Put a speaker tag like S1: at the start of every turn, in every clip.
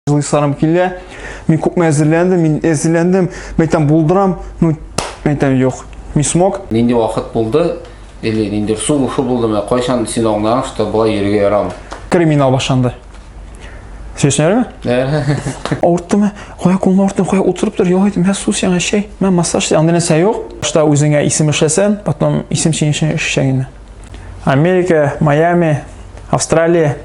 S1: Җылыйсарым килә. Мин күпме әзерләндем, мин әзерләндем. Мәйтәм булдырам, ну мәйтәм юк. Не смог. Нинди вакыт булды?
S2: Или нинди су ушу булды? Менә кайчан син аңлаган, что болай йөрергә ярамый? Криминал башланды.
S1: Сөйләшенәме? Авырттымы? Кая кулны авырттым, кая утырып тор, ял итем, мә су сиңа чәй, мә массаж, анда нәрсә юк. Что үзеңә исем эшләсән, потом исем сиңа эшләгәнне. Америка, Майами, Австралия.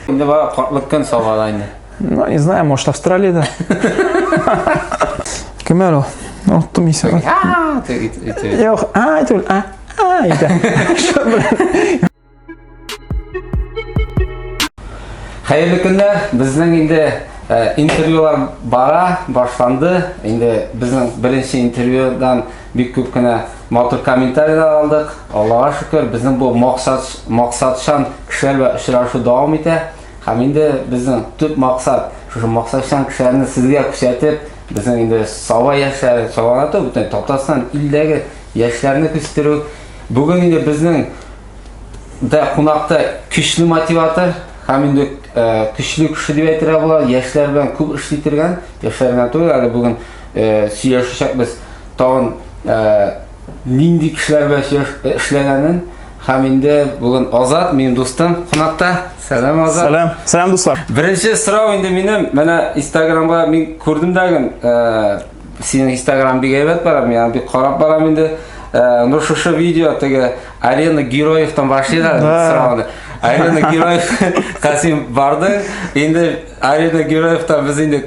S1: Инде
S2: бара картлык көн сабала инде. Ну, не знаю, может,
S1: Австралияда. Кем әле ул? Ул тым исә. А, ты итә. Юк, а, итә. А, а, итә.
S2: Хәерле көннәр. Безнең инде э, интервьюлар бара, башланды. Инде безнең беренче интервьюдан бик күп кенә Матур комментарийлар алдык. Аллага шөкер, безнең бу максат максатчан кешеләр белән очрашу дәвам итә. Һәм инде безнең төп максат шушы максатчан кешеләрне сезгә күрсәтеп, безнең инде саба яшьләре сабанату бөтен Татарстан илдәге яшьләрне күстерү. Бүген инде безнең дә кунакта көчле мотиватор һәм инде көчле кеше дип әйтергә була, яшьләр белән күп эшли торган, яшьләр генә түгел, әле бүген сөйләшәчәкбез. Тагын нинди кешеләр белән сөйләш- эшләгәнен һәм инде бүген Азат, минем дустым, кунакта. Сәлам, Азат. Сәлам, сәлам дуслар. Беренче
S1: сорау инде
S2: минем, менә Инстаграмга мин күрдем дәген, ә, синең Инстаграм бик әйбәт бара, мин аны бик карап барам инде. Ә, ну шушы видео теге Арена Героевтан башлый да Да. сорауны. Арена Героев Касим барды, инде Арена Героевтан без инде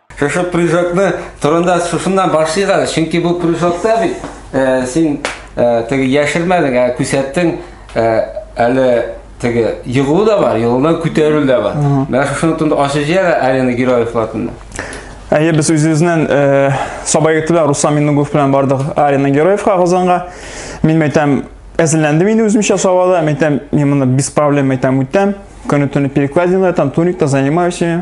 S2: Шушы прыжокны турында шушыннан башлыйк әле, чөнки бу прыжокта бит э, син э, теге яшермәдең, ә күрсәттең э, әле теге егылу да бар, егылудан күтәрелү дә бар. Менә шушыны турында ачып җибәр Алина Героев латында. Әйе, без
S1: үзебезнең э, сабай егетебез Руслан Миннугов белән бардык Алина Героевка Казанга. Мин мәйтәм, әзерләндем инде үземчә сабада, мәйтәм, мин моны без проблем мәйтәм үтәм. Көне-төне перекладина, там туникта занимаюсь.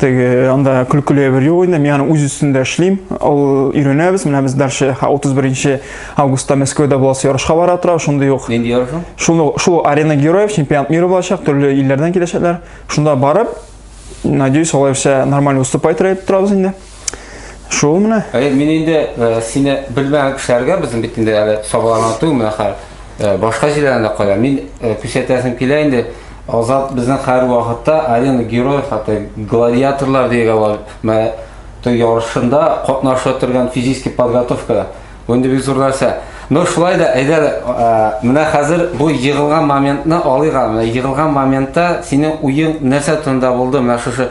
S1: теге анда көлкеле бер юк инде мин аны үз өстендә эшлим ул өйрәнәбез менә без дальше 31 августта мәскәүдә буласы ярышка бара тора шундый ук нинди ярыш шуны
S2: шул арена
S1: героев чемпионат мира булачак төрле илләрдән киләчәкләр шунда барып надеюсь алай все нормально выступать итеп торабыз инде Шул менә. Әй, мин инде э,
S2: сине белмәгән кешеләргә безнең бит инде әле сабаларны түгел менә хәл. Э, башка җирләрдә кая. Мин э, күрсәтәсем килә инде. Азат безнең хәзер вакытта арена герой хәтта гладиаторлар дигән бар. Менә той ярышында катнашып торган физический подготовка. Бу инде бик зур нәрсә. Ну шулай да әйдә э, менә хәзер бу егылган моментны алыйк. Менә егылган моментта синең уең нәрсә турында булды? Менә шушы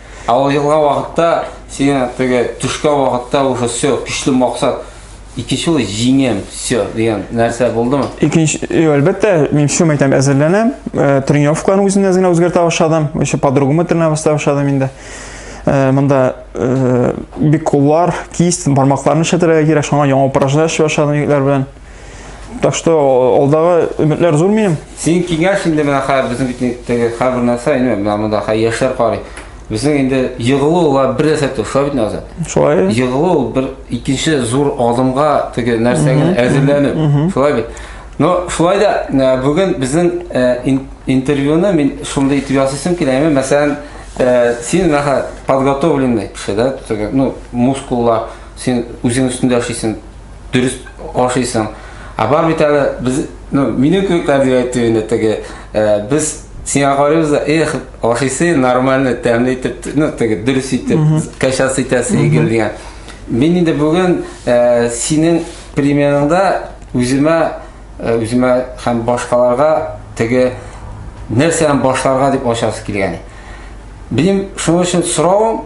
S1: Ә ул елга вакытта,
S2: сиңа теге төшкә вакытта уже все, көчле максат. Икенче ул җиңәм, все дигән нәрсә булдымы? Икенче, әлбәттә,
S1: мин все мәйтәм әзерләнәм. Э, тренировкаларны үземне әз генә үзгәртә башладым. Еще по-другому тренировать башлый башладым инде. Э, монда э, бик куллар, кисть, бармакларны эшләтергә кирәк, шуңа яңа упражнение эшли башладым егетләр белән. Так что алдагы өметләр зур минем. Синең киңәш инде
S2: менә хәзер безнең битнектәге һәрбер нәрсә инде менә монда хәзер яшьләр карый. Безнең инде егылу ла бер нәрсә түгел, шулай бит Назар? Шулай. Егылу
S1: бер
S2: икенче зур адымга теге нәрсәгә әзерләнеп, шулай бит. Но шулай да э, бүген безнең э, интервьюны мин шундый итеп ясыйсым килә, яме мәсәлән, э, син нәһә подготовленный кеше, да, ну, мускуллар, син үзең өстендә эшлисең, дөрес ашыйсың. Ә бар бит әле без, ну, минем кебекләр дип әйтү инде теге, э, без сиңа карыйбыз да, эх, ашыйсы нормально, тәмле итеп, ну, теге дөрес итеп, качасы итәсе игел дигән. Мин инде бүген э, синең примерыңда үземә э, үземә һәм башкаларга теге нәрсәдән башларга дип ачасы килгән. Минем шуның өчен соравым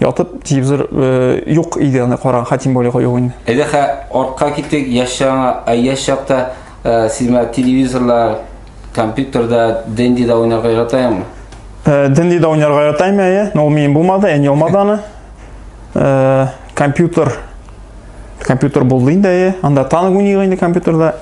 S1: Ятып телевизор э, юк иде аны караган, ха тем более юк инде. Әйдә хә артка
S2: китик, яшь чагыңа, ә яшь чакта э, син менә телевизорда, компьютерда, дендида уйнарга яратаеңмы? Э, дендида
S1: уйнарга яратам әйе, но ул минем булмады, әни алмады аны. Э, компьютер компьютер булды инде әйе, анда танк уйный инде компьютерда.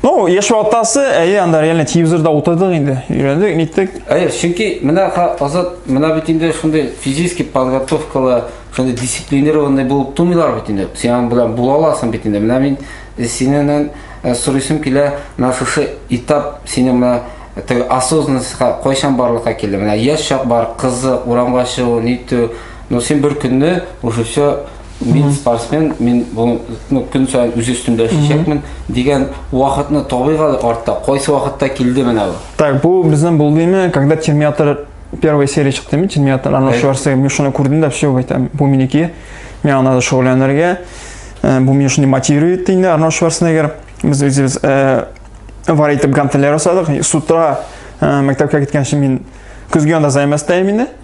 S1: Ну, еш ватасы, әйе, анда реально телевизорда утырдык инде, өйрәндек, ниттек. Әйе, чөнки менә
S2: азат, менә бит инде шундый физически подготовкалы, шундый дисциплинированный булып тумыйлар бит инде. Синең белән була аласың бит инде. Менә мин э, синеннән э, сорыйсым килә, менә шушы этап синең менә э, осознанностька кайчан барлыкка килде? Менә яшь чак бар, кызык, урамга чыгу, нитү. Но син бер көнне уже все мин спортсмен, мин бу ну, көн саен үз өстемдә эшләячәкмен дигән вакытны табыйк әле артта. Кайсы вакытта килде менә бу? Так, бу безнең
S1: булдымы, когда Терминатор первая серия чыкты мин Терминатор, Арнольд Шварценеггер, мин шуны күрдем дә все, әйтәм, бу минеке. Миңа надо шөгыльләнергә. Э, бу мине шундый мотивирует инде Арнольд Шварценеггер. Без үзебез э, вар итеп гантельләр ясадык. С утра э, мәктәпкә киткәнче мин көзге анда займастайм инде.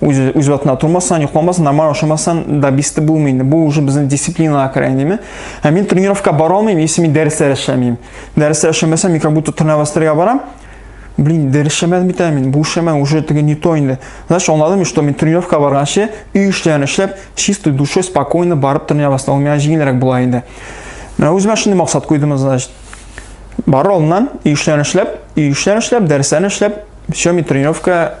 S1: үз, үз ватына тормасаң, йоқламасаң, нормально ашамасаң, добисты булмый инде. Бу уже безнең дисциплинага керә инеме. Ә мин тренировка бара алмыйм, если мин дәресләр эшләмим. Дәресләр эшләмәсәм, мин как будто тренировастырга барам. Блин, дәрес эшләмәдем бит әле мин. Бу эшләмә уже теге не то инде. Значит, аңладым, что мин тренировка барганчы, өй эшләрен эшләп, чистой душой, спокойно барып тренироваться. Ул миңа җиңелрәк була инде. Менә үземә шундый максат куйдым, значит. Бар алдыннан, өй эшләрен эшләп, өй эшләрен эшләп, дәресләрен эшләп, все, мин тренировка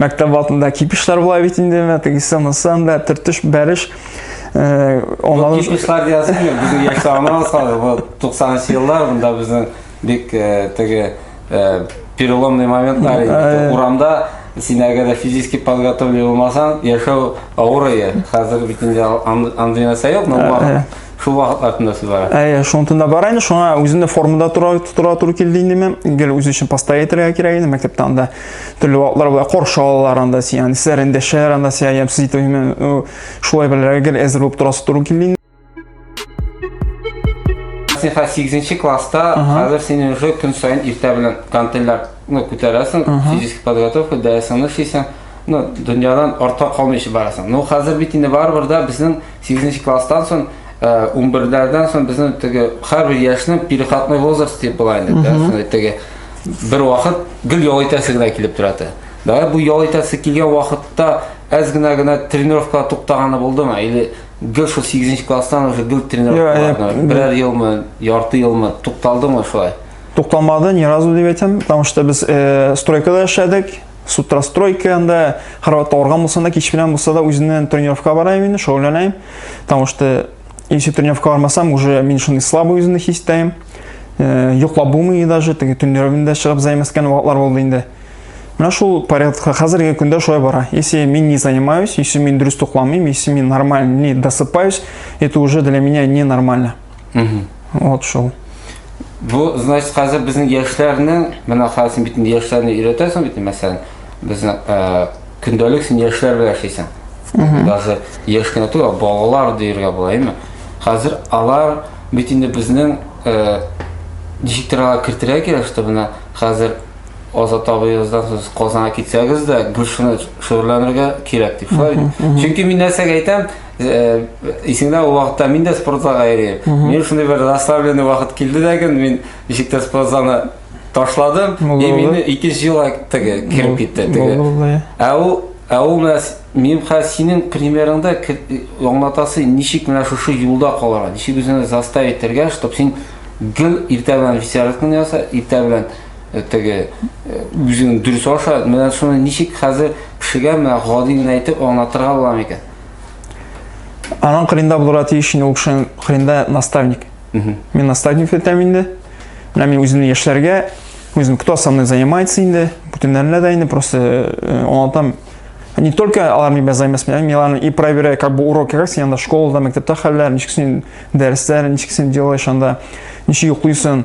S1: мәктәп алдында кипишлар була бит инде менә тегесе монысы анда төртеш бәреш э,
S2: онлан кипишлар диясең килә безнең яшь чагына салды бу 90 еллар монда безнең бик э, теге э, переломный моментлар иде урамда син әгәр дә физически подготовлен булмасаң яшәү авыр иде хәзер бит инде андый нәрсә юк но Шул вакыт артында сез бара. Әйе, шуның тында бар инде. Шуңа
S1: үземне формада тора тора туры килде инде мен. Гел үз өчен постоя итәргә кирәк инде. Мәктәптә анда төрле вакытлар була, каршы алалар анда син, анда сез рендәшәләр анда сия ям сез итеп мен шулай белергә гел әзер булып торасы туры килде инде.
S2: Син хәзер 8 класста, хәзер син уже көн саен иртә белән гантельләр ну, күтәрәсең, физический подготовка, дәресеңне эшлисең, ну, дөньядан артка калмыйча барасың. Ну, хәзер бит инде барыбер да безнең Сигезенче класстан соң, унберләрдән соң безнең теге һәрбер яшьнең переходной возраст дип була инде, да, шундый теге бер вакыт гел ял итәсе генә килеп тора иде. Дагы бу ял итәсе килгән вакытта әз генә генә тренировка туктаганы булдымы? Или гел шул 8 класстан уже гел тренировка берәр елмы, ярты елмы тукталдымы шулай? Тукталмады ни
S1: разу дип әйтәм, потому что без э, стройкада эшләдек, Сутрастройка анда хәрәкәт алган булсам да, кич белән булса да үзеннән тренировка барам инде, шөгыльләнәм. Потому что если тренировка бармасам, уже мин шуны слабый үземне хис итәм. Э, йоклап булмый даже, теге төннәрен дә чыгып займаскан вакытлар булды инде. Менә шул порядка хәзерге көндә шулай бара. Если мин не занимаюсь, если мин дөрес тукламыйм, если мин нормально не досыпаюсь, это уже для меня не нормально. вот шул бу
S2: значит хәзер безнең яшьләрнең менә хәзер бит инде яшьләрне өйрәтәсең бит мәсәлән безнең э, көндәлек син яшьләр белән яшисең даже яшь кенә түгел балалар дияргә була әйме хәзер алар бит инде безнең э, ничектер алар кертергә кирәк что менә хәзер азат абыегыздан сез казанга китсәгез дә гөлшаны шөгыльләнергә кирәк дип шулай чөнки мин нәрсәгә әйтәм Э, исеңдә ул вакытта мин дә спорт залга йөрим мин шундый бер расслабленный вакыт килде дә көн мин ничек тә спорт залны ташладым и мин икенче юлга теге кереп китте теге ә ул ә ул менә мин хәзер синең примерыңда аңлатасы ничек менә шушы юлда калырга ничек үзеңне заставить итәргә чтобы син гел иртә белән весерканы яса иртә белән э, теге э, үзең дөрес аша менә шуны ничек хәзер кешегә менә гади генә әйтеп аңлатырга була микән
S1: Анан кырында булырга тиеш инде ул кешенең кырында наставник. Мин наставник итәм инде. Менә мин үземнең яшьләргә, үзем кто со мной занимается инде, бүтәннәренә дә инде просто э, аңлатам. Не только алар мин белән заниматься, мин аларны и проверяю, как бы урок как син анда школада, мәктәптә хәлләр, ничек син дәресләр, ничек син делаешь анда, ничек йоклыйсың.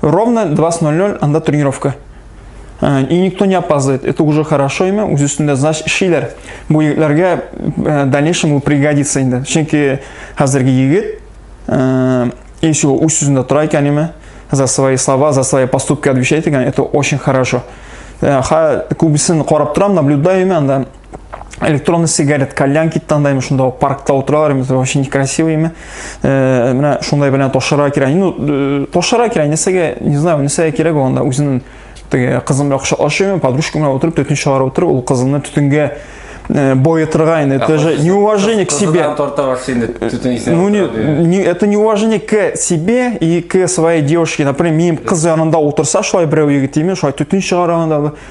S1: Ровно 20.00 анда тренировка. Э, и никто не опаздывает. Это уже хорошо имя, үз өстендә знач эшлиләр. Бу егетләргә э, дальнейшем бу пригодится инде. Чөнки хәзерге егет э, если его үз сүзендә тора икән имя, за свои слова, за свои поступки отвечает икән, это очень хорошо. Ха, күбесен карап торам, наблюдаю имя, анда электронный сигарет кальян кит таңдаймын шунда паркта отыралар именно вообще некрасивый именно э, менә шундай белән ташырга кирәк ну э, ташырга кирәк нәрсәгә не знаю нәрсәгә кирәк ул анда үзенең теге кызым белән кочаклашып подружка белән отырып төтен чыгарып утырып ул кызымны төтенгә э, боетырга инде это же неуважение к себе ну не, не это неуважение к себе и к своей девушке например минем кыз янында утырса шулай берәү егет именно шулай төтен чыгарганда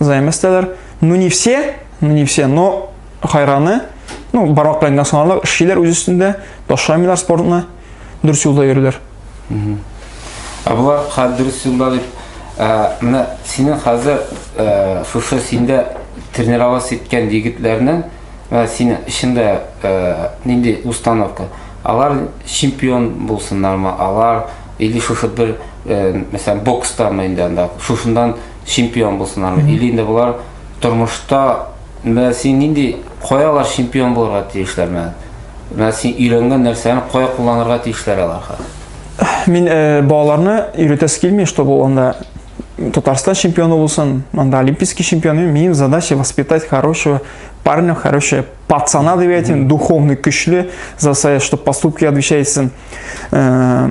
S1: займастелар. Ну не все, ну не все, но хайраны, ну барак белән националлар эшлиләр үз өстендә, ташламыйлар спортны, дөрес юлда йөриләр. Ә болар
S2: хәзер дөрес юлда дип, менә синең хәзер шушы синдә тренировать иткән егетләрнең синең эчендә нинди установка? Алар чемпион булсыннармы? Алар или шушы бер, мәсәлән, бокстамы инде анда, шушындан чемпион булсыннар. Или инде болар тормышта менә син нинди кая алар чемпион булырга тиешләр менә. Менә син өйрәнгән нәрсәне кая кулланырга тиешләр алар хәзер. Мин э,
S1: балаларны өйрәтәсе килми, чтобы ул анда Татарстан чемпионы булсын, анда олимпийский чемпионы. Минем задача воспитать хорошего парня, хорошего пацана, деп әйтим, духовный, көчле, за свои, что поступки отвечает э,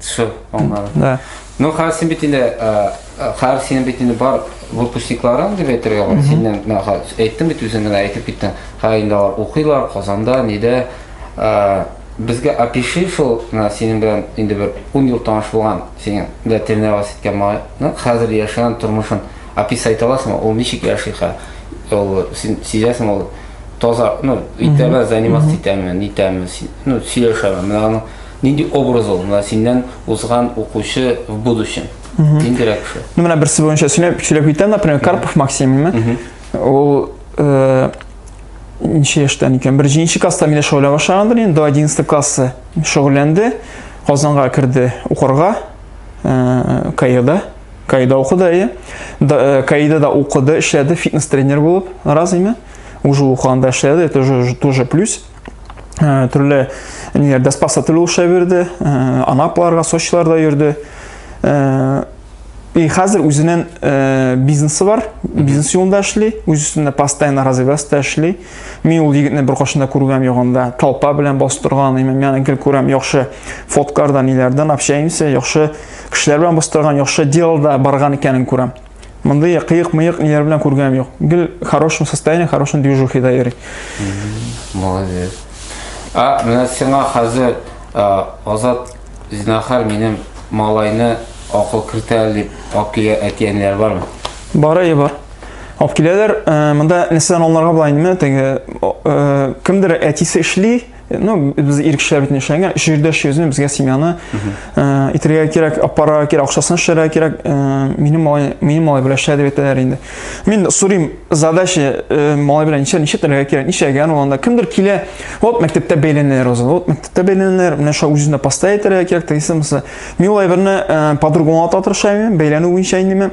S1: Все, аңладым.
S2: Да. Ну, хәзер
S1: син бит
S2: инде, э, э, хәзер синең бит инде бар выпускникларың дип әйтергә бар. Син менә менә хәзер әйттең бит үзең генә әйтеп киттең. Хәзер инде алар укыйлар Казанда, нидә. Э, Безгә опиши шул менә синең белән инде бер 10 ел таныш булган синең дә тренировать иткән малайны, хәзер яшәгән тормышын описать аласыңмы? Ул ничек яши хәзер? Ул син сизәсең ул таза, ну, итәме, заниматься итәме, нитәме, си- ну, сөйләшәме? Менә аның Нинди образ ул? Менә синнән узган укучы в будущем. Ниндирәк кеше? Ну, менә берсе буенча сөйләп,
S1: сөйләп китәм, например, Карпов Максимме. Ул э, ничә яшьтән икән? Бер җинче класста мине шөгыльләнә башлагандыр, инде до 11 классы шөгыльләнде. Казанга керде укырга. Э, Каирда. Каирда укыды, әйе. Э, Каирда да укыды, эшләде фитнес-тренер булып. Развеме? Уже укыганда эшләде, это уже тоже плюс. төрле ниләрдә спа сатылу эшләп йөрде, Анапларга, Сочиларда йөрде. И хәзер үзенең бизнесы бар, бизнес юлында эшли, үз өстендә постоянно развиваться эшли. Мин ул егетне бер кашында күргәм ягында, толпа белән бастырган, имам яны гел күрәм, яхшы фоткардан, ниләрдән общаемся, яхшы кешеләр белән бастырган, яхшы делда барган икәнен күрәм. Мондый кыек-мыек ниләр белән күргәнем юк. Гел хорошем состоянии, хорошем движухида йөри.
S2: Молодец. А менә сиңа хәзер Азат Зинахар минем малайны акыл кертә дип алып килә әтиәниләр бармы? Бары и бар.
S1: Алып киләләр. Монда нәрсәдән алынырга була инде? Теге кемдер әтисе эшли, ну без ир кешеләр бит эшләнгән өч җирдә эшлибез безгә семьяны э, итергә кирәк апарырга кирәк акчасын эшләргә кирәк э, минем малай минем малай белән эшлә дип әйтәләр инде мин сорыйм задача э, малай белән ничә ничә теләргә кирәк ничәгән ул анда кемдер килә вот мәктәптә бәйләнәләр уза вот мәктәптә бәйләнәләр менә шулай үзенә поста әйтергә кирәк тегесе мин ул әйберне по-другому ата тырышам бәйләнү буенча инде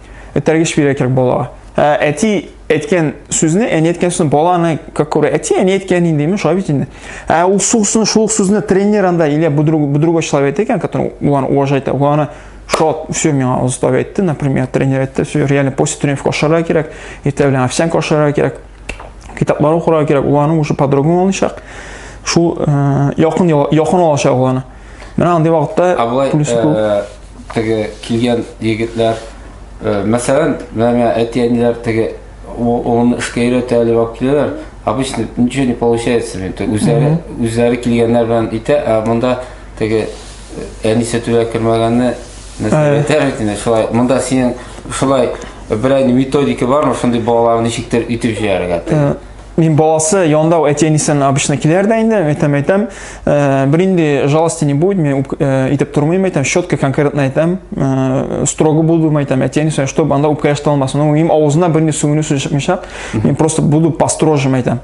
S1: этәргеч бирә кирәк балага. Ә әти әйткән сүзне, әни әйткән сүзне баланы как күрә. Әти әни әйткән инде, мен шулай бит инде. Ә ул сүзне, шул сүзне тренер анда или бу друг, бу другой человек әйткән, который улан уважать, уланы шот, все миңа устав әйтте, например, тренер әйтте, все реально после тренировки ашарга кирәк, иртә белән овсянка ашарга кирәк, китаплар укырга кирәк, уланы уже по-другому алачак. Шул э, якын якын алачак уланы. Менә андый вакытта Абылай, плюс күп. Э, теге килгән
S2: егетләр, э, мәсәлән, менә әти-әниләр теге улын эшкә өйрәтә әле алып киләләр. Обычно ничего не получается. Үзләре, үзләре килгәннәр белән итә, ә монда теге э, әнисе түлә кермәгәнне нәрсә әйтә бит инде шулай. Монда синең шулай берәй методика бармы шундый балаларны ничектер итеп җыярга? Мин баласы
S1: янында әти әнисен обычно киләр дә инде әйтәм әйтәм э, бер инде жалости не будет мен э, итеп тормыйм әйтәм четко конкретно әйтәм э, строго буду әйтәм әти әнисе чтобы анда үпкә яшьтә алмасын ну им авызына бер инде сүгенү сүз чыкмыйча мин просто буду построже әйтәм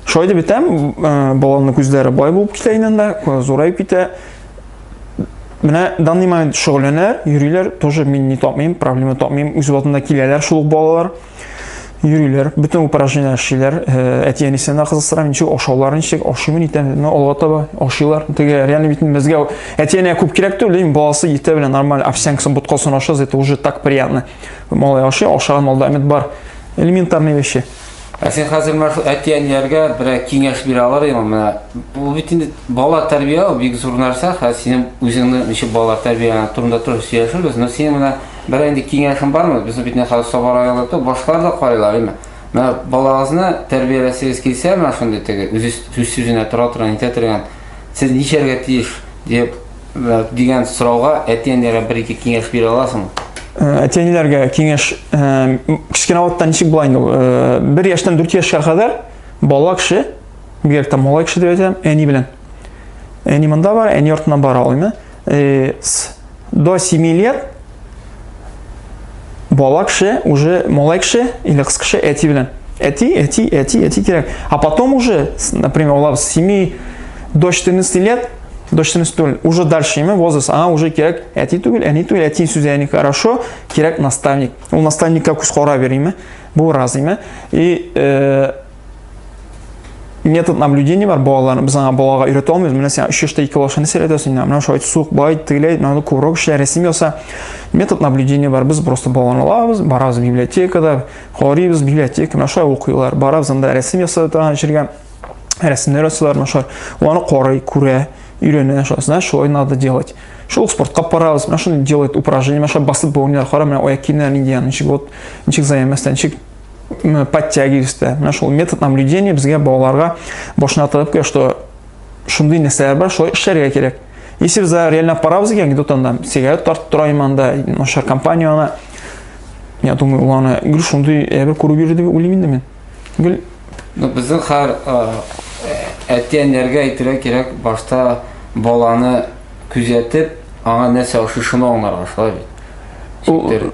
S1: шулай дип әйтәм баланың күзләре бай булып китә инде анда зурайып китә менә данный момент шөгыльләнәләр йөриләр тоже мин не тапмыйм проблема тапмыйм үз вакытында киләләр шул балалар Йөриләр, бөтен упражнение эшлиләр. Әти әнисен дә кызыксыра, ничек ашаулар, ничек ашыймы итәм, но алга таба ашыйлар. Теге реально бит безгә әти әнә күп кирәк түгел, дим, баласы ите белән нормаль овсянкасын, боткасын ашаса, это уже так приятно. Малай ашый, ашаган малда әмет бар. Элементарные вещи. Ә сен хәзер
S2: мәху әти әниләргә бер киңәш бирә алар идең менә. Бу бит инде бала тәрбия бик зур нәрсә. Хәзер синең үзеңне ничек бала тәрбия турында туры сөйләшербез, но син менә Бер инде киңәшем бармы? Безнең бит нәхәл Саба районы то башкалар да карыйлар, әйме. Менә балагызны тәрбияләсегез килсә, менә шундый теге үзе сүз сүзенә тора торган, әйтә торган, сез ничәргә тиеш дип дигән сорауга әти-әниләргә бер-ике киңәш бирә аласыңмы? Э, әти-әниләргә
S1: киңәш э, кечкенә вакытта ничек була инде ул? Э, бер яшьтән дүрт яшькә кадәр бала кеше, бигрәк тә малай кеше дип әйтәм, әни белән. Әни монда бар, әни артыннан бара ул, э, с, до 7 лет бала кеше уже малай кеше или кыз кеше әти белән әти әти әти әти кирәк а потом уже например олар 7 до 14 лет до 14 түгел уже дальше ме возраст аңа уже кирәк әти түгел әни түгел әти сүзе әни хорошо кирәк наставник ул наставникка күз карап йөриме бу разыйме и э, метод наблюдения бар балаларны без аңа балага өйрәтә алмыйбыз менә син өч яшьтә ике балашыны сөйләтәсең инде менә шулай сук байт тегеләй надо күбрәк эшлә рәсем яса метод наблюдения бар без просто баланы алабыз барабыз библиотекада карыйбыз библиотека менә шулай укыйлар барабыз анда рәсем ясап торган җиргә рәсемнәр ясыйлар менә шулай аны карый күрә өйрәнә шулай знаешь шулай надо делать шул спортка барабыз менә шуны делает упражнение менә шулай басып бауны кара менә аяк киемнәре нинди ничек вот ничек заемастан ничек подтягиваюсь да менә шул метод наблюдения безгә балаларга башына тыгып куя что шундый нәрсәләр бар шулай эшләргә кирәк если без реально апарабыз икән где-то анда сигарет тартып тора иманда начар компания ана я думаю ул аны гел шундый әйбер күреп йөри дип уйлыйм инде мин гел ну безнең
S2: хәр әти әниләргә әйтергә кирәк башта баланы күзәтеп аңа нәрсә ошый шуны аңларга шулай бит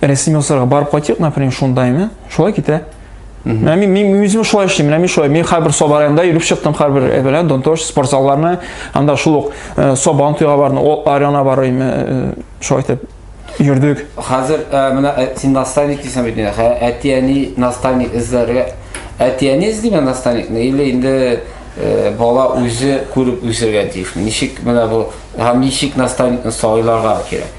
S1: рәсем ясарга барып кайтыйк, например, шундаймы? Шулай китә. Менә мин мин үзем шулай эшлим, менә мин шулай. Мин хәрбер Саба районында йөреп чыктым, хәрбер әбелә э, Донтош спорт залларына, анда шул ук э, Сабан туйга бардым, ул арена бар име, э, шулай итеп йөрдек. Хәзер
S2: менә син наставник дисең бит, әти-әни наставник эзләргә. Әти-әни эзлиме наставникны или инде бала үзе күреп үсергә тиешме? Ничек менә бу һәм ничек наставникны сайларга кирәк?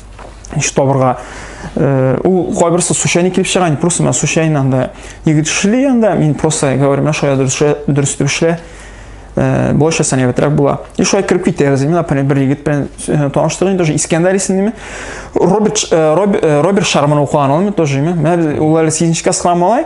S1: еш табырга э, ул кайберсе случайно килеп чыга инде просто мен случайно анда егет эшли анда мин просто говорю менә шулай дөрес итеп эшлә э, былайша сәнәгатьрәк була и шулай кереп китәбез мин например бер егет белән э, таныштык инде уже искәндәр исемлеме роберт роберт шарман укыган ул тоже менә ул әле сигезенче класс малай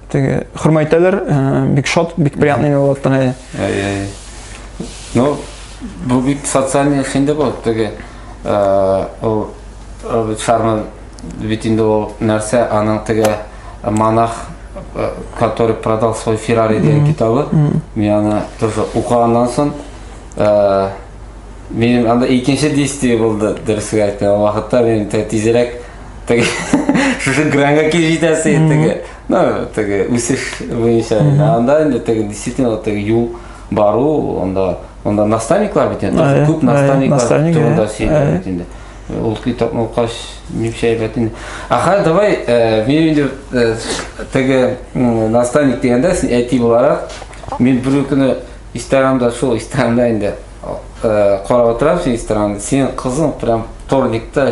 S1: Теге хөрмәйтәләр, э, бик шат, бик приятный булаттан әйе. Әйе.
S2: Ну, бу бик социальный хинде бу, теге э, ул Роберт Шарман бит инде ул нәрсә, аның теге монах э, который продал свой Феррари дигән китабы. Мин аны тоже укыганнан соң э, минем анда икенче действие булды, дөресен әйтә. Ул вакытта мин тә тизрәк теге шушы гранга килеп җитәсе теге ну теге үсеш буенча анда инде теге действительно теге юл бару анда анда наставниклар бит инде күп наставниклар турында сөйләгән бит инде ул китапны укач нишләп әйбәт инде аха давай мин инде теге наставник дигәндә син әти буларак мин бер көне инстаграмда шул инстаграмда инде карап утырам син инстаграмда синең кызың прям вторникта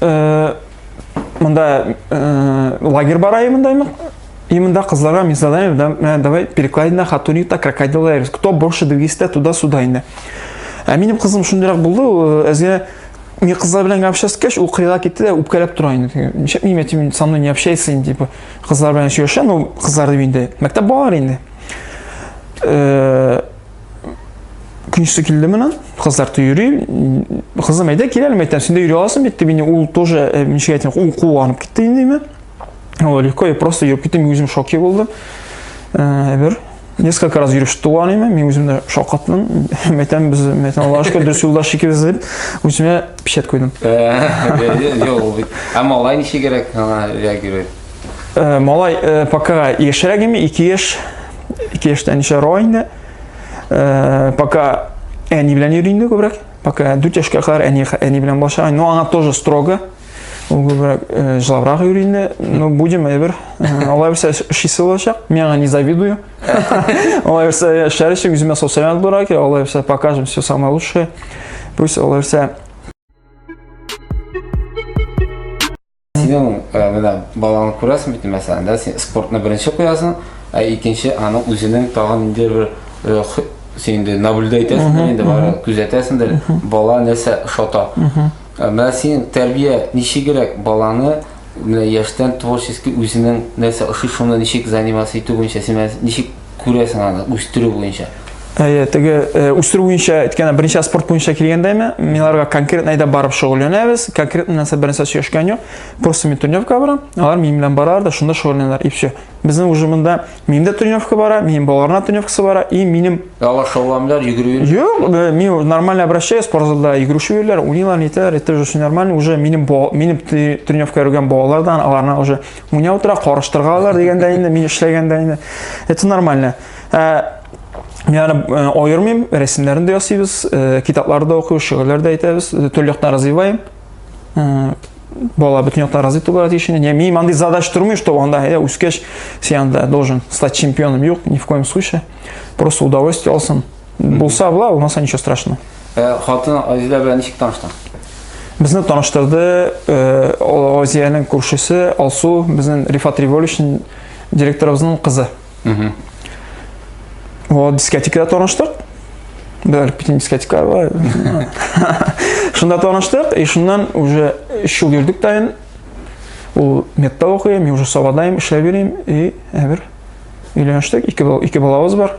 S1: э, мында э, лагерь бар айымында именно и мында кызларга мен задание э, давай перекладина хатунита крокодил лайрис кто больше двигится туда сюда инде ә минем кызым шундыйрак булды э, әзгә мен кызлар белән общаться кеш ул кырыйга китте дә үпкәләп тора инде ничек нима тим со мной не общайся инде типа кызлар белән сөйләшә ну кызлар дип инде мәктәп балалары инде э, Күнчесе килде менә, кызлар ты йөри. Кызым әйдә киләле мәйтән, син дә йөри аласың бит, дип ул тоже э, ничек әйтсәң, ул куанып китте инде мә. Ул легко, я просто йөреп киттем, үзем шоке булдым. Э, бер несколько раз йөреп чыкты ул аниме, мин үзем дә шакаттым. Мәйтән без, мәйтән Аллаһ шөкер, дөрес юлдаш икебез дип, үземә печать куйдым.
S2: Юк, ә малай ничек кирәк, ана реагирует? Э, малай
S1: э, пока яшьрәк име, 2 яшь ике яшьтән ничә рой инде э, пока әни белән йөри инде күбрәк пока дүрт яшькә кадәр әни әни белән булачак но аңа тоже строго ул күбрәк э, жылабрак йөри инде но будем әйбер э, алай булса эшлисе булачак мин аңа не завидую алай булса яшәр өчен үземә социаль булырга кирәк алай булса покажем все самое лучшее пусть алай булса
S2: Синең э, менә балаңны күрәсең бит, мәсәлән, да, син спортны беренче куясың, ә икенче аның үзенең тагын инде бер э, х- син инде наблюдать итәсеңдер инде бары, күзәтәсеңдер, бала нәрсә ошата. Ә Менә синең тәрбия ничегрәк баланы менә яшьтән творчески үзенең нәрсә ошый шуны ничек заниматься итү буенча син менә ничек күрәсең аны үстерү буенча Әйе, теге
S1: үстерү буенча әйткәндә беренче спорт буенча килгәндә ме, миларга конкретно әйдә барып шөгыльләнәбез. Конкретно нәрсә беренче сөйләшкән юк. Просто мин тренировка барам, алар минем белән баралар да шунда шөгыльләнәләр и все. Безнең уже монда минем дә тренировка бара, минем балаларның тренировкасы бара и минем Алар шөгыльләнәләр,
S2: йөгерү. Юк, мин
S1: нормально обращаюсь, спортзалда йөгерүче йөриләр, уйныйлар, нитәләр, это уже все нормально, уже минем минем тренировка йөргән балалар да аларны уже Менә утыра карыштыргалар дигәндә инде мин эшләгәндә инде. Это нормально. Ә, Мин аны э, аермыйм, рәсемнәрен дә ясыйбыз, э, китаплар да укыйбыз, шигырьләр дә әйтәбез, э, төрле яктан развиваем. Э, бала бөтен яктан развит булырга тиеш инде. Я мин андый задач тормый, что анда әйдә үскәч сен анда должен стать чемпионом. Юк, ни в коем случае. Просто удовольствие алсын. Булса була, булмаса ничего страшного. Э, хатын
S2: Азизә белән ничек таныштың? Безне
S1: таныштырды э, Азиянең күршесе Алсу, безнең Рифат Революшн директорыбызның кызы. Вот дискотекада таныштык. Бәлки битен дискотека бар. Шунда таныштык, и шуннан уже 3 ел йөрдек тайын. Ул метта укый, мин уже Савадайым, эшләп йөрим и әбер. Өйләнештек, ике бала, ике балабыз бар.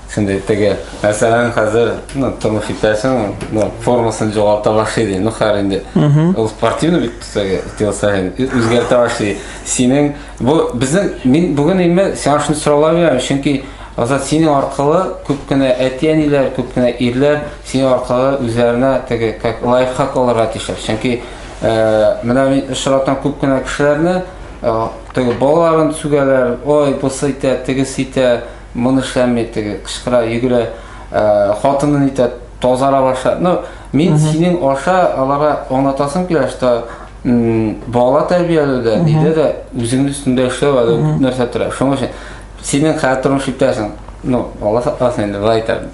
S2: Şimdi теге, мәсәлән, хәзер ну, тормыш итәсең, ну, формасын жоғалта башлый ди. Ну, хәр инде. Ул спортивный бит теге телосаһен үзгәртә башлый. Синең бу безнең мин бүген инде сиңа шуны сорала бирәм, чөнки Азат синең аркылы күп кенә әти-әниләр, күп кенә ирләр синең аркылы үзләренә теге как лайфхак алырга тиешләр. Чөнки э, менә мин очратам күп кенә кешеләрне, э, теге балаларын сүгәләр, ой, бусы итә, тегесе итә, Моны эшләми теге кычкыра, йөгерә, хатыны нитә, тазара баша. Ну, мин синең аша аларга аңлатасым килә, что бала тәрбияләүдә, нидә дә үзеңнең өстендә эшләү әле нәрсә тора. Шуның өчен синең хәзер тормыш иптәшең, ну, Алла сакласын инде, былай әйтәм.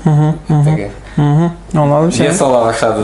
S2: Теге. Аңладым
S1: сине. Вес ала башлады.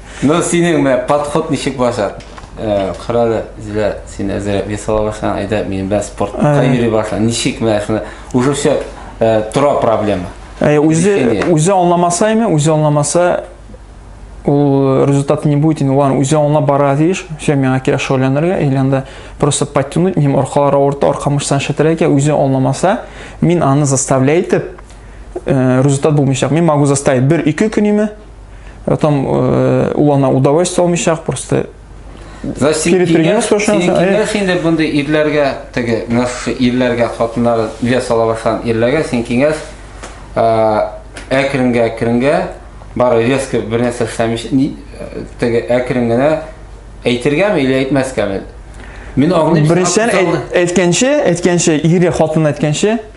S1: Ну, синең
S2: мә подход ничек башар? Э, Кырады, Зилә, син әзер вес ала башлан, айда мин бә спортка Ә. йөри башлан. Ничек мә шуны? Уже все э, тора проблема.
S1: Ә, үзе
S2: Решение. үзе аңламаса
S1: име, үзе аңламаса ул результат не будет, инде ладно, үзе аңлап бара тиеш. Все, миңа кирәк шөгыльләнергә, или анда просто подтянуть, минем аркалар авырта, арка мышцаны шәтерә икән, үзе аңламаса, мин аны заставляй итеп, э, результат булмыйчак. Мин могу заставить бер-ике көн име, Э, там э, ул ана удовольствие алмыйча просто перед тренером спрашиваем. Киңәш инде бундай
S2: ирләргә теге ирләргә хатыннар вес ала башлаган ирләргә син киңәш әкренгә әкренгә бары резко бер нәрсә эшләмиш теге әкрен генә әйтергәме или әйтмәскәме? Мин аңлыйм. Беренчедән
S1: әйткәнче, әйткәнче ире хатын әйткәнче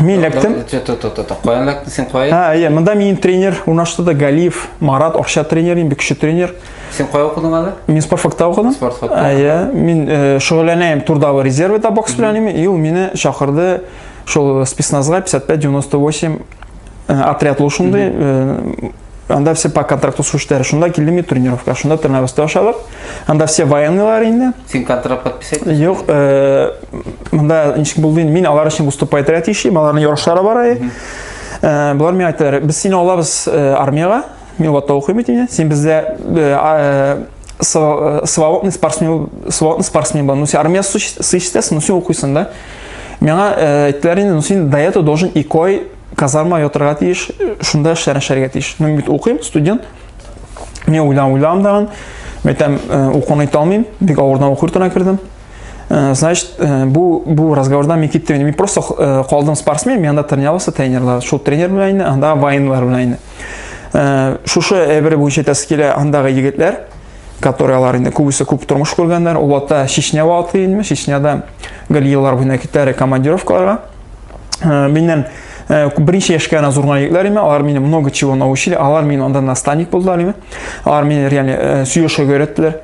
S1: Мин эләктем. Каян эләктең
S2: син кая? Ә, әйе, монда минем тренер
S1: урнашты да Галиев Марат, акча тренер, бик көчле тренер. Син кая укыдың
S2: әле? Мин спорт факта укыдым.
S1: Спорт факта. Әйе, мин э, шөгыльләнәм турдагы резервда бокс белән, и ул мине чакырды шул спецназга 55-98 Э, отряд ул шундый э, анда все по контракту слушатели шунда килдем и тренировка шунда тренировкада ашадык анда все военныйлар инде син контракт подписать
S2: юк э,
S1: мында ничек булды мин алар өчен выступать рәт эшлим аларның ярышлары бар әле болар миңа әйттеләр без сине алабыз армияга мин ватта укыйм бит инде син бездә свободный спортсмен свободный спортсмен бар ну син армия сыйшсәсең ну син укыйсың да миңа әйттеләр инде ну син до этого должен икой казарма ятырга тиеш, шунда эшләрен эшләргә тиеш. Мин бит укыйм, студент. Мин уйлам уйлам дагын. Мәйтәм, э, укуны итә алмыйм. Бик авырдан уку йортына кердем. Э, значит, э, бу бу разговорда мин киттем. Мин просто калдым спортсмен, мин анда тренировался тренерлар. Шул тренер белән инде, анда военлар белән инде. Шушы әйбер буенча тәскилә андагы егетләр который алар инде күбесе күп тормыш күргәннәр ул вакытта чечня вакыты инде чечняда гел еллар буена китәр командировкаларга э, миннән э, беренче яшькә генә зурган егетләр име алар мине много чего научили алар мине анда наставник булдылар име алар мине реально э, сөйләшергә өйрәттеләр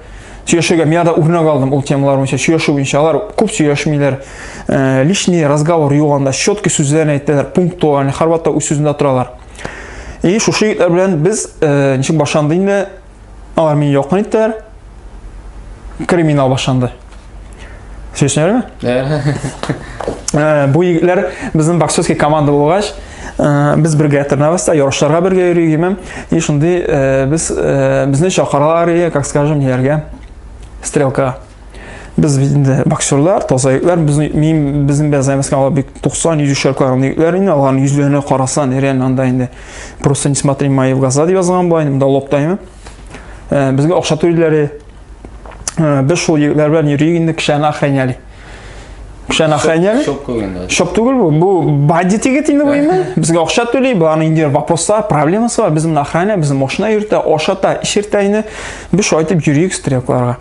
S1: сөйләшергә мин анда үрнәк алдым ул темалар буенча сөйләшү буенча алар күп сөйләшмиләр лишний разговор юк анда четкий сүзләрне әйтәләр пунктуально һәрвакытта үз сүзендә торалар и шушы егетләр белән без ничек башланды инде Алар мине якын иттеләр. Криминал башланды. Сөйләшәләрме? Э, бу егетләр безнең боксерский команда булгач, э, без бергә тренироваться, та, ярышларга бергә йөригеме. И шундый э, без безне чакыралар, как скажем, ниләргә? Стрелка. Без бит инде боксерлар, таза егетләр, без мин безнең белән займаска алар бик 90 100 шарклар аны егетләр инде, аларның йөзләренә карасан, реально анда инде просто не смотри мои в глаза дип язган була инде, монда локтаймы. Э, безгә акча түлиләр. Э, без шул егетләр белән йөрик инде кешене охраняли. Кешене охраняли. Шоп түгел. Шоп түгел бу. Бу бандит егет инде бу инде. Безгә акча түли, буларның инде вопрослар, проблемасы бар. Безне охраня, безне машина йөртә, ашата, ишертә инде. Без шайтып йөрик стрелкларга.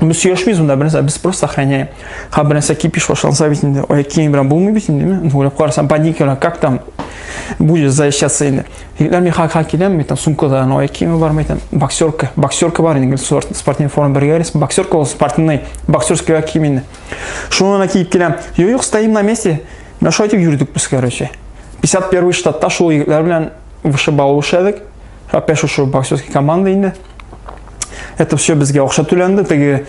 S1: Без сөйләшмибез монда бернәрсә, без просто сохраняем. Ха бернәрсә кипиш башланса бит инде, ой, киң белән булмый бит инде, мен уйлап карасам, паника белән, как там будет защищаться инде. Егетләр мин хак хак киләм, мен там сумкада, ну, ой, киң бар, мен там боксерка, боксерка бар инде, спорт, спортивный форма бергә рис, боксерка ул спортивный, боксерский как кием инде. Шуны киеп киләм. Юк, юк, стоим на месте. Мен шулай дип йөрдек без, короче. 51 штатта шул егетләр белән вышибал эшләдек. Опять шушы боксерский команда инде. Это все безгә акча түләнде, теге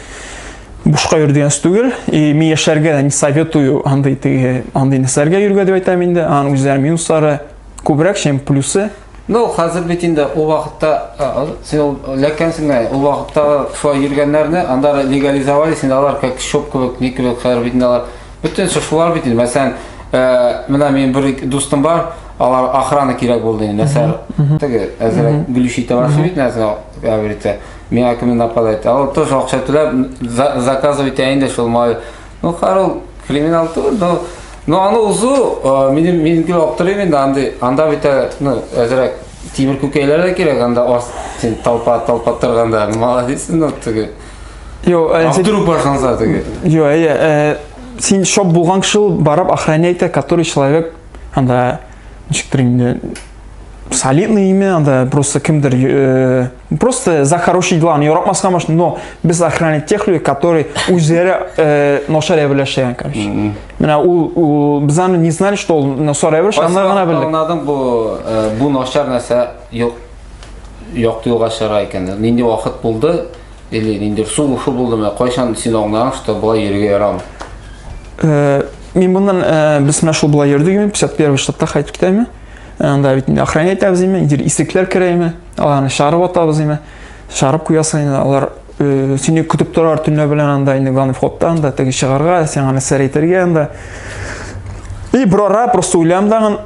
S1: бушка йөр дигән түгел. И мин яшәргә не советую андый теге андый нәрсәләргә йөргә дип әйтәм инде. Аның үзләре минуслары күбрәк, чем плюсы. Ну,
S2: хәзер бит инде ул вакытта син ләкәнсең дә, ул вакытта шулай йөргәннәрне анда легализовали, син алар как шоп кебек, ни кебек хәзер бит инде алар Бөтен шушылар бит инде. Мәсәлән, э, менә минем бер дустым бар, алар охрана кирәк булды инде. Мәсәлән, теге әзрәк гөлүши табасы бит нәрсә говорите. Миңа кем нападает. Ал тоже акча төләп заказывай итә инде шул май. Ну, карыл криминал түгел, но но аны узу э, минем минеке аптырыйм инде андый. Анда бит э, ну, әзрәк тимер күкәйләр дә кирәк анда ас толпа толпа торганда. Молодец, ну, теге. Йо, э, А
S1: сен- вдруг башланса
S2: теге? Йо, әйе, э,
S1: син шоп булган кеше ул барып охранять который человек анда ничектер инде солидный имя анда просто кемдер э, просто за хорошие дела аны яратмаска может но без охранять тех людей которые үзләре э, начар әберләшә короче менә ул ул без аны не знали что ул начар әберләшә аны гына белдек Аңладың бу
S2: э, бу начар нәрсә юк якты юлга чыгара икән. Нинди вакыт булды, или нинди су ушу булдымы, кайчан син аңлаган, что болай йөрергә ярамый? Э, мин моннан
S1: э, без менә шул болай йөрдегме, 51 штатта кайтып китәме? Анда бит инде охрана итәбез име, инде исекләр керәме, аларны чарып атабыз име, чарып куясың инде, алар э, сине көтеп торар төнлә белән анда инде главный входта анда теге чыгарга, сиңа нәрсә әйтергә анда. И брора просто уйлам дагын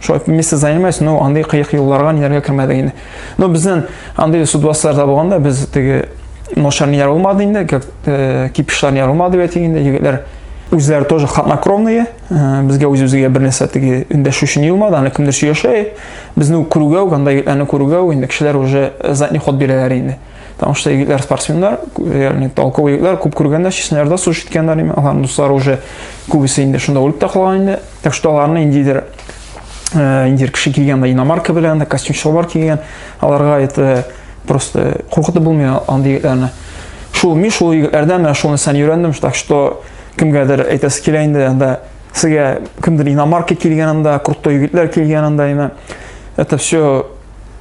S1: Шулай вместе занимаюсь, но андый кыек юлларга ниләргә кермәдек инде. Но безнен андый судваслар да булганда без теге ношар ниләр булмады инде, как э, кипишлар ниләр булмады бит инде егетләр үзләре тоже хатнокровные, э, безгә үз-үзгә бер нәрсә теге өндәшү өчен юлмады, аны кемдер сөйләшә. Безне күрүгә үк, анда егетләрне күрүгә үк инде кешеләр уже задний ход бирәләр инде. Потому что егетләр спортсменнар, реально толковый егетләр, күп күргәннәр, чечняларда сугыш иткәннәр, аларның дуслары уже күбесе инде шунда үлеп тә калган инде. Так что аларны индидер э, индир кеше килгән да иномарка белән, костюм чалбар кигән, аларга это просто куркытып булмый андый егетләрне. Шул мин шул егетләрдән менә шуны сан өйрәндем, так что кемгәдер әйтәсе килә инде анда сезгә кемдер иномарка килгән анда, крутой егетләр килгән анда, это все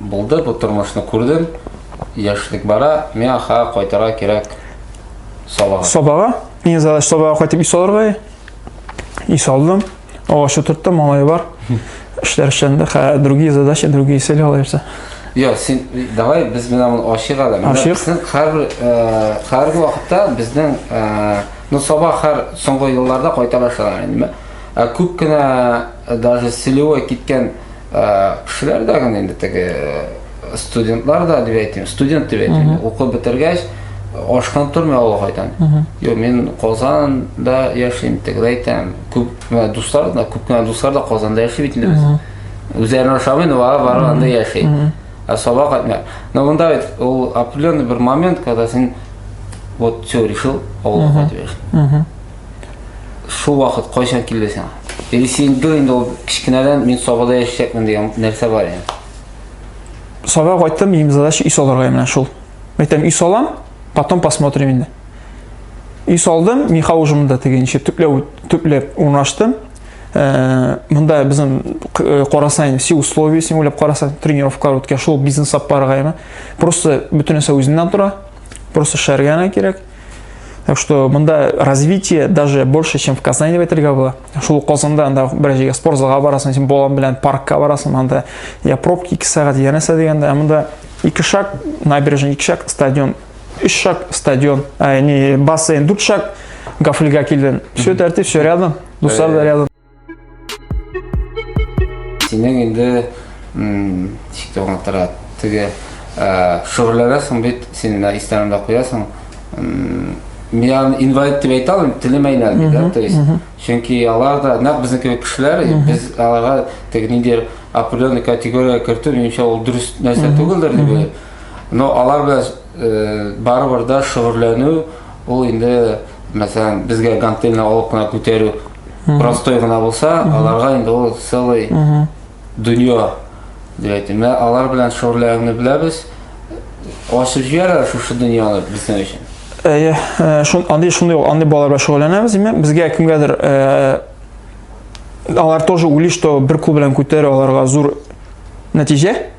S2: Булды бу тормышны күрдем, яшьлек бара, миңа ха кайтырга кирәк Сабага. Сабага.
S1: Иң задача Сабага кайтып ис алырга. Ис алдым. Агач утырттым, малай бар. Эшләр эшләнде. Ха, другие задачи, другие цели алайса. Йо, син
S2: давай без менә моны ачык әле. Ачык. Син һәрбер э, һәрбер вакытта безнең э, ну Саба һәр соңгы елларда кайтарашалар инде. Ә күп кенә э, даже Селева киткән Кешеләр дә генә инде теге студентлар да дип әйтим, студент дип әйтим. Укып бетергәч, ашкан тормый авылга кайтам. Юк, мин Казанда яшим, тегеләр әйтәм. Күп кенә дуслар да, күп кенә дуслар да Казанда яши бит инде без. Үзләренә ошамый, но бары бары анда яши. Ә сабак кайтмый. Но монда бит ул определенный бер момент, когда син вот все решил, авылга кайтып яши. Шул вакыт кайчан килде сиңа? Или син бер инде ул кечкенәдән мин Сабада яшәячәкмен дигән нәрсә бар инде?
S1: Сабага кайттым, минем задача өй салырга менә шул. Мәйтәм, өй салам, потом посмотрим инде. Өй салдым, миха ужымында тегенче төпләп төпләп урнаштым. Э, мында безнең э, карасаң все условия син уйлап карасаң тренировка үткә шул бизнес сапарга просто бөтен нәрсә үзеннән тора просто шәргәнә кирәк Так что мында развитие даже больше, чем в Казани в әйтергә була. Шул Казанда анда бер җиргә спорт залга барасың, син балаң белән паркка барасың, анда я пробки 2 сәгать, я нәрсә дигәндә, ә монда ике шаг набережный, ике шаг стадион, өч шаг стадион, ә, не бассейн, дүрт шаг гафлига килден. Все тәртип, все рядом, дуслар да рядом.
S2: Синең инде ничек тә аңлатырга теге шөгыльләнәсең бит син менә истәңдә куясың миан инвалид дип әйтә алмыйм телем әйләнде да то есть чөнки алар да нәкъ безнең кебек кешеләр без аларга теге ниндидер определенный категориягә кертү минемчә ул дөрес нәрсә түгелдер дип уйлыйм но алар белән э, барыбер да шөгыльләнү ул инде мәсәлән безгә гантельны алып кына күтәрү простой гына булса, аларга инде ул целый дөнья дип әйтим. Менә алар белән шөгыльләнүне беләбез. Ачып җибәрә шушы дөньяны безнең өчен. Әйе, э, шун андый шундый ул,
S1: андый балалар белән шөгыльләнәбез. Димәк, безгә кемгәдер э, алар тоже уйлый, что бер кул белән күтәрә аларга зур нәтиҗә.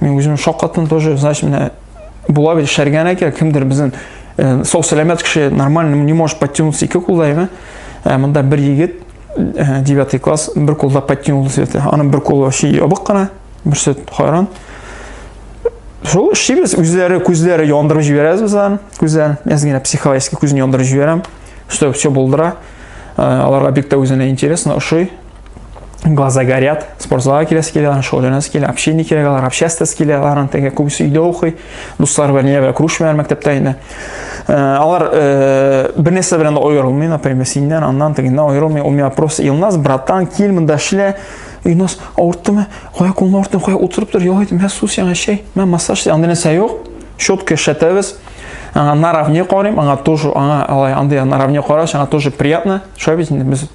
S1: Мен үзем шаккаттым тоже, значит, менә була бит шәргән әкә, кемдер безнең э, сау сәламәт кеше нормально не может подтянуться ике кулдайга. Ә э, монда бер егет 9 э, класс бер кулда подтянулся дип. Аның бер кулы вообще ябык кына, берсе хайран. Шул шибез үзләре күзләре яндырып җибәрәбез без аны. Күзләрен, я генә психологически күзен яндырып җибәрәм, чтобы все булдыра. Аларга бик тә үзенә интересно, ошый. глаза горят, спортзалга киләсе килә, шөгыльләнәсе килә, общение кирәк алар, обществасы килә, аларның теге күбесе өйдә укый, дуслар белән нигә белән күрешмәләр мәктәптә инде. Э, алар э, бер нәрсә белән дә аерылмый, например, синнән, аннан, тегеннән аерылмый. У меня просто Илназ, братан, кил монда эшлә. Илназ, авырттымы? Кая кулны авырттым, кая утырып тор, ял ит, мә су сиңа чәй, мә массаж, андый нәрсә юк. Щетка эшләтәбез. Аңа наравне карыйм, аңа тоже, аңа алай андый наравне караш, аңа тоже приятно. Шулай бит инде без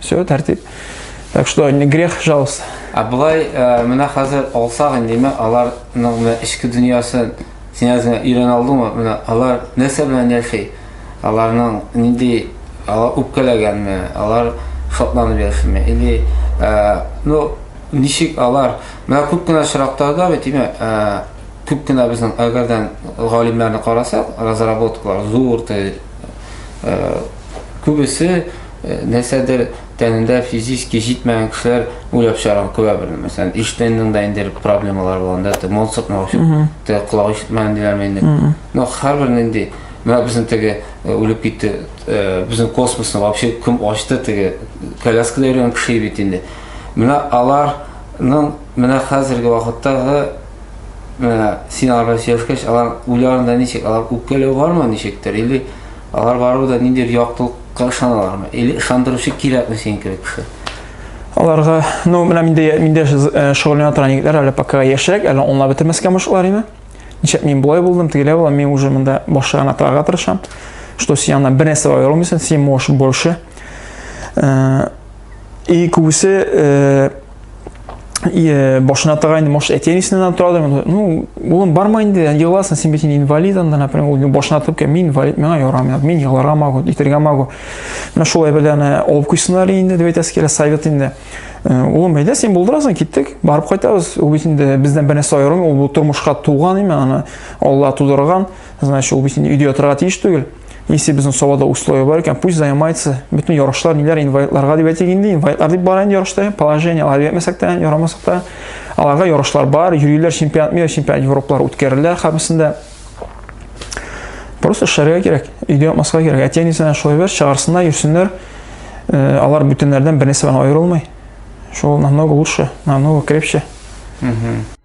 S1: Все, тәртип. Так что не грех жалость. А былай э,
S2: менә хәзер алсак инде ме аларның менә эчке дөньясын син әзме өйрән алдыңмы? Менә алар нәрсә белән яши? Аларның нинди алар үпкәләгәнме? Алар шатланып яшиме? Или э, ну ничек алар менә күп кенә очракларда бит име э, күп кенә безнең әгәрдән галимнәрне карасак, разработкалар зур күбесе Нәрсәдер тәнендә физически җитмәгән кешеләр уйлап чыгарган күрә бер, мәсәлән, Эйнштейнның да инде проблемалары булганда, те Моцарт мә өчен, те колак ишетмәгән диләрме инде. Но һәрбер нинди, менә безнең теге э, үлеп китте, э, безнең космосны вообще кем ачты теге коляскада йөргән кеше бит инде. Менә аларның менә хәзерге вакыттагы менә син алар белән сөйләшкәч, алар уйларында ничек, алар үпкәләү бармы ничектер или Алар барыбер дә ниндидер яктылыкка ышаналармы? Или ышандыручы кирәкме синең кебек кеше? Аларга,
S1: ну, менә миндә миндә э, шөгыльләнә торган егетләр әле пока яшьрәк, әле онлап бетермәскә мышлар име? Ничек мин болай булдым, тегеләй булам, мин уже монда башы гына торырга тырышам. Что син янына бер нәрсә бара алмыйсың, син можешь больше. Э, и күбесе э, Э, башына тагайны может әтиәнесенен алып торады ну улым барма инде егыласың сен бит инде инвалид анда например ул башына тып ке мин инвалид миңа ярамый мин егылырга могу итәргә могу менә шулай бәлә аны алып куйсыннар инде дип әйтәсе килә совет инде э, улым әйдә син булдырасың киттек барып кайтабыз ул бит инде бездән бер нәрсә аерылмый ул тормышка туган именно аны алла тудырган Значит, ул бит инде өйдә ятырга тиеш түгел. Если безнең Сабада условия бар икән, пусть занимается. Бөтен ярышлар ниләр инвалидларга дип әйтик инде. Инвалидлар дип бара инде ярышта. Положение алар ятмәсәк тә, ярамасак та. Аларга ярышлар бар, йөриләр чемпионат мира, чемпионат Европалар үткәрелә хәбисендә. Просто шәргә кирәк, өйдә ятмаска кирәк. Әти әнисенә шулай бер чыгарсыннар, йөрсеннәр. Э, алар бүтәннәрдән бернәрсә белән аерылмый. Шул намного лучше, намного крепче. Угу.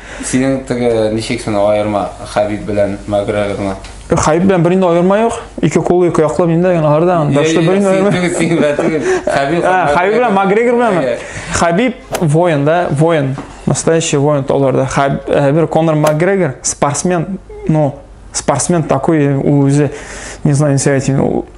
S1: Синең теге
S2: ничек син аерма Хәбиб белән Макгрегорны? Хәбиб белән бернинди
S1: аерма юк. Ике кулы, ике яклы миндә генә алардан. Дәште бернинди аерма. Хәбиб. Хәбиб белән Макгрегор белән. Хәбиб воин да, воин. Настоящий воин аларда. Хәбиб Конор Макгрегор спортсмен, ну, спортсмен такой, үзе, не знаю, не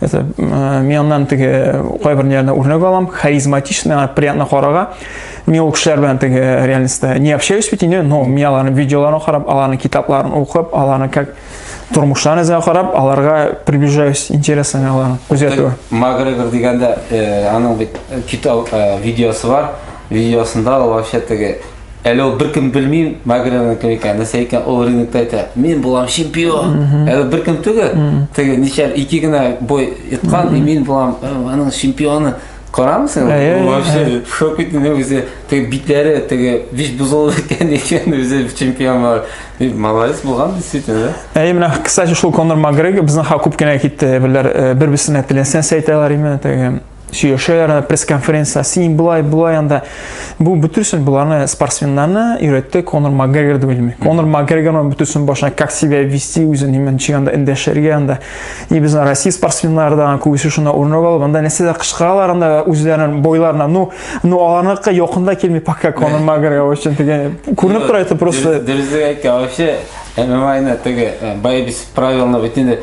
S1: Это э, мин аннан теге кайбер ниләрне үрнәк алам, харизматично, приятно карага. Мин ул кешеләр белән теге э, реальностьта не общаюсь бит инде, но мин аларның видеоларын карап, аларның китапларын укып, аларның как тормышларын эзләп карап, аларга приближаюсь, интересно аларны күзәтү. Магрегор дигәндә,
S2: э, аның бит китап видеосы бар. Видеосында ул вообще теге Әле ул беркем белми Магринаның кем икәнен, нәрсә икәнен, ул рингта әйтә, мин булам чемпион. Әле беркем түгел. Теге ничә ике генә бой иткан, и мин булам э, аның чемпионы. Карамсың? Ул Әй, әй, вообще в шок итте, не үзе теге битләре, теге биш бозылды икән икән үзе чемпион бар. И молодец булган действительно. да. Әй, менә, кстати, шул
S1: Конор Макгрегор безнең ха күп кенә китте, әйберләр, э, бер-берсенә теләсә сәйтәләр име, теге сөйләшәләр анда пресс-конференция син болай болай анда бу бөтенсен боларны спортсменнарны өйрәтте конор макгрегор дип белми конор макгрегор бөтенсен башына как себя вести үзен неме ничек анда эндәшергә анда и безнең россия спортсменнары да күбесе шунда урынок алып анда нәрсәләр кычкыралар анда үзләренең бойларына ну ну аларныкы якында килми пока конор макгрегор өчен дигән күренеп тора это просто дөрес әйткән
S2: вообще мма ны теге боевец правилны бөтенләй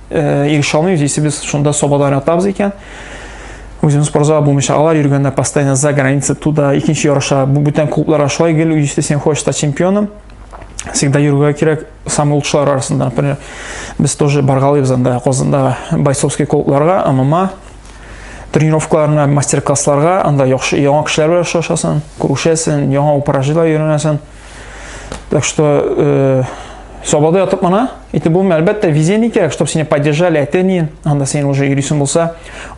S1: Ириш алмый, үзесе без шунда собада уйнатабыз икән. Үзем спортзал булмыйча алар йөргәндә постоянно за граница туда, икенче ярыша. Бу бүтән клубларга шулай гел, если сен хочешь стать чемпионом, всегда йөрергә кирәк самый лучшылар арасында. Например, без тоже баргалыйбыз анда Казанда Байсовский клубларга, ММА тренировкаларына, мастер-классларга, анда яхшы яңа кешеләр белән очрашасың, күрешәсең, яңа упражнениеләр өйрәнәсең. Так что э, Сабады атып мына, итеп булмый, әлбәттә, везение кирәк, чтобы сине поддержали, әтәнин, анда сен уже йөрисең булса,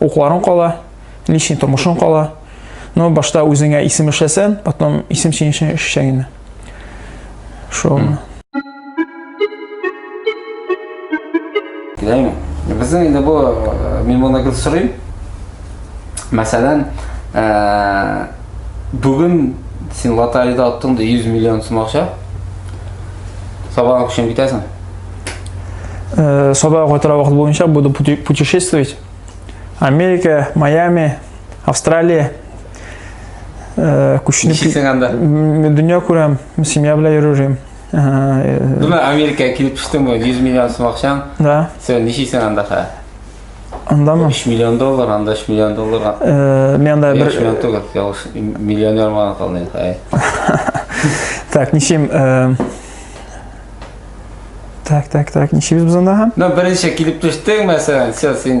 S1: укларың кала, личный тормышың кала. Но башта үзеңә исем эшләсән, потом исем синең өчен эшләгән. Шул.
S2: Яме. Безнең инде бу э, мин моны гел сорыйм. Мәсәлән, э, бүген син лотерейда аттың да 100 миллион сум акча. Сабаң өчен китәсең. Э,
S1: Саба кайтара вакыт буенча буду пути- путешествовать. Америка, Майами, Австралия. Э, Күченеп Ничек сеңәндә? М, дөнья күрәм, семья белән йөрим.
S2: Думаю, Америкаға килеп төштең бо, 100 миллион сум акчаң. Да. Сен ничисең
S1: анда
S2: хә? Андамы?
S1: 3 миллион доллар,
S2: анда 3 миллион долларга. Э, мен анда бер 3
S1: миллион түгел, ялгыш
S2: миллионер булган калдың хәй.
S1: Так, ничем э, Так, так,
S2: так, ничебез
S1: без анда һәм?
S2: Ну, беренче
S1: килеп
S2: төштең, мәсәлән,
S1: сен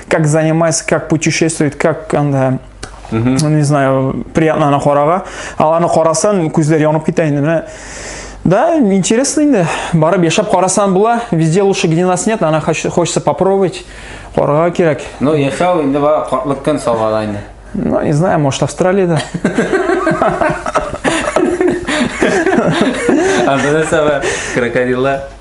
S1: как занимается, как путешествует, как анда не знаю, приятно аны карага. Ал аны карасан, күзләр янып китә инде. Менә Да, интересно инде. Барып яшәп карасан була. Везде лучше, где нас нет, она хочется попробовать. Карга кирәк. Ну, яшәү инде
S2: бар, картлык көн салган инде. Ну, не знаю, может,
S1: Австралияда.
S2: Анда нәрсә бар? Крокодиллар.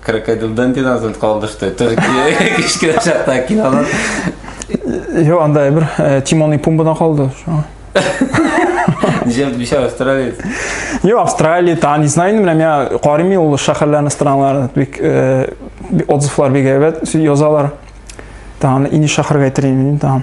S2: Крокодил Дандин азын калды, что это же кичкенә чакта кинолар.
S1: Йо, анда бер э, Тимон и Пумбадан калды. шуңа.
S2: Ничә ничә австралиец. Йо,
S1: Австралия, та, не знаю, менә миңа карыйм ул шәһәрләрне, страннарны, бик э, би- отзывлар бик әйбәт, су- язалар. Та, аны инеш шәһәргә әйтер идем, та.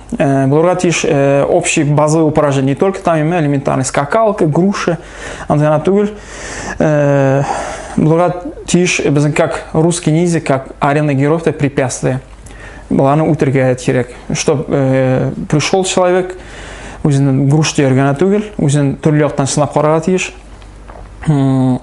S1: Э, Булырга тиеш э, общий базовый упражнение. Не только там именно элементарный скакалка, груша, андыгана түгел. Э, Булырга тиеш безнең как русский ниндзя, как арена героев, это препятствие. Баланы үтергә кирәк. Чтоб пришел человек, үзен груш дигән түгел, үзен төрле яктан сынап карарга тиеш.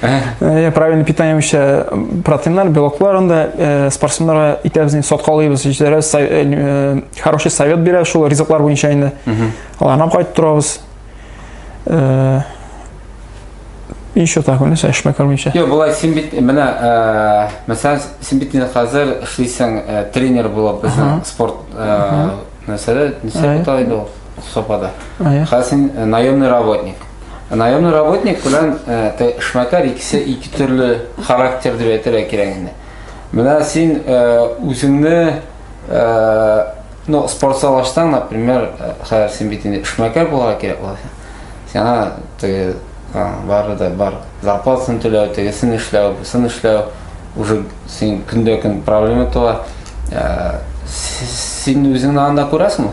S1: Э, правильное питание вообще протеинлар, белоклар анда э, спортсменнарга итәбез инде соткалыйбыз, җитәрәбез, э, хороший совет бирә шул ризыклар буенча инде. Аларны кайтып торабыз. И что так, ну, сәш мәкәр буенча. Йо, болай син бит менә,
S2: э, мәсәлән, син бит инде хәзер эшлисең э, тренер булып безнең спорт э, нәрсәдә, нәрсә бит ул? Сопада. Хәзер син э, наемный работник. Наемный работник белән э, эшмәкәр икесе ике төрле характер дип әйтергә кирәк инде. Менә син э, үзеңне ну, спортзал ачсаң, например, хәзер син бит инде эшмәкәр булырга кирәк була. Сиңа теге бары да бар зарплатасын түләү, тегесен эшләү, бусын эшләү уже син көндә көн проблема туа. Син үзеңне анда күрәсеңме?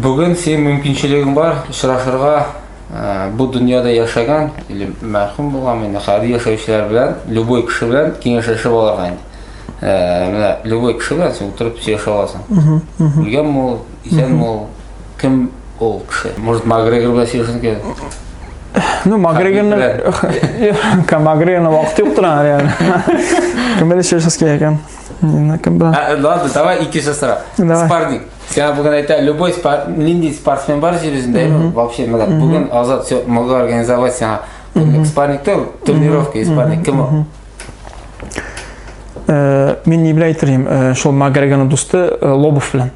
S2: Бүген синең мөмкинчелегең бар очрашырга э, бу дөньяда яшәгән или мәрхүм булган инде хәзер яшәүчеләр белән любой кеше белән киңәшләшеп алырга инде. Э, менә любой кеше белән син утырып сөйләшә аласың. Үлгән мул, исән мул, кем ул кеше? Может, Макгрегор белән сөйләшәсең килә? Ну,
S1: Макгрегорны Макгрегорны вакыт юктыр әле. Кем белән сөйләшәсең килә икән? Мина кем була? А,
S2: ладно, давай икенче сорау. Давай. Спарник. Сиңа бүген әйтә, любой спар... нинди спортсмен бар җир йөзендә, mm вообще, мына бүген азат все могу организовать сиңа. Спарник тел, тренировка и спарник. Кем ул? Э,
S1: Мин не беләйтер идем, э, шул Магрегана дусты э, Лобов белән.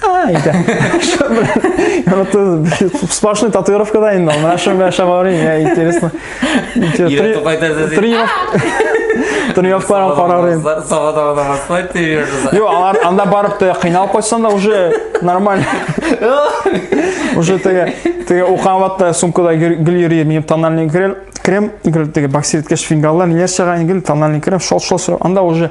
S1: Әйтә. Яны ты сплошной татуировка да инде. Менә шуны белән шәм авырый, я интересно. Ирек кайтарды. Тренировка. Тренировкаларга карарым. Сабада гына басмай тренировка. Юк, алар анда барып та кыйналып кайтсаң да уже нормально. Уже теге теге укыган вакытта сумкада гел йөри, минем тональный крем, крем, гел теге боксерткеш фингаллар, ниләр чыга, гел тональный крем, шол шол. Анда уже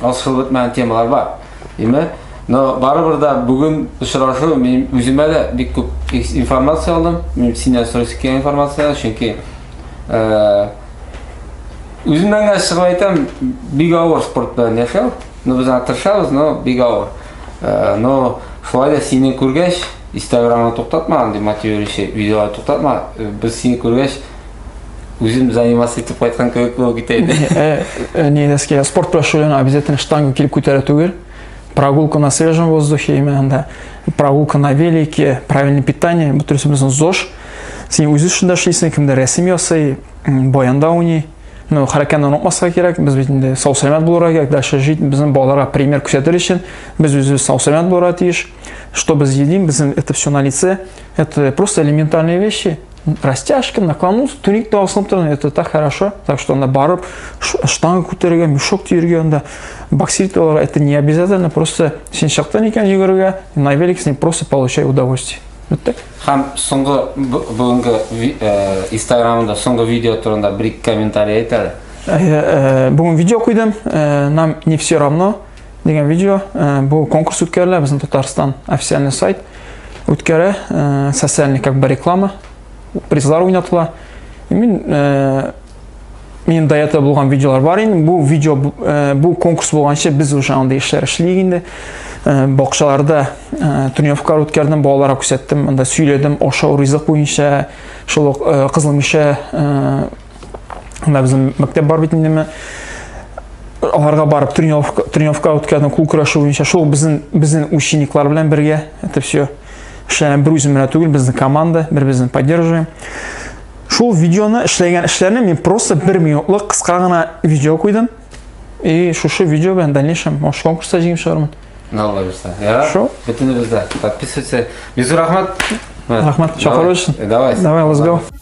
S2: асылып бетмәгән темалар бар. Димә, но барыбер да бүген очрашу мин үземә дә бик күп информация алдым. Мин синнән сорыйсы килгән информация, чөнки э, үземнән генә чыгып әйтәм, бик авыр спорт белән яшәү. Ну без аны тырышабыз, но бик авыр. Э, но шулай да сине күргәч, Инстаграмны туктатмаган, демотивирующий видеолар туктатма. Э, без сине күргәч, Үзем заниматься итеп кайткан кебек булып китә иде. Э, э, не доски,
S1: спорт белән шөгыльләнү обязательно штангу килеп күтәрә түгел. Прогулка на свежем воздухе, именно анда прогулка на велике, правильное питание, бу төресе безнең ЗОЖ. Син үзе шунда эшлисең, кемдә рәсем ясый, баянда уйный. Ну, хәрәкәтне онытмаска кирәк, без бит инде сау сәламәт булырга кирәк, дальше жить, безнең балаларга пример күрсәтер өчен, без үзебез сау сәламәт булырга тиеш. Что без едим, безнең это все на лице, это просто элементарные вещи. растяжка наклонус туникта асылып торган это так хорошо так что анда барып штанга күтәрергә мешок төяргә анда боксерить аларга это не обязательно просто син чыктың икән йөгерергә на велик син просто получай удовольствие бетте һәм
S2: соңгы бүгенге инстаграмында соңгы видео турында бер ике комментарий әйт әле бүгін
S1: видео қойдым нам не все равно Деген видео. Э, бу конкурс үткәрелә безнең Татарстан официальный сайт үткәрә. Э, социальный как бы реклама. Призлар уйнатыла. Мин э, минем до этого булган видеолар бар инде. Бу видео бу конкурс булганчы без уже анда эшләр эшлик инде. Э, бакчаларда э, тренировкалар үткәрдем балаларга күрсәттем анда сөйләдем ашау ризык буенча шул ук э, кызыл мишә Анда безнең мәктәп бар бит инде аларга барып тренировка тренировка үткәрдем кул көрәше буенча шул безнең безнең учениклар белән бергә это все эшләгән бер үзем генә түгел безнең команда бер безне поддерживаем шул видеоны эшләгән эшләрне мин просто бер минутлык кыска гына видео куйдым и шушы видео белән дальнейшем может конкурста җиңеп чыгармын алла бирса я
S2: шул бөтенебез дә подписывайся
S1: бизу
S2: рахмат рахмат чакыру өчен
S1: давай
S2: давай let's go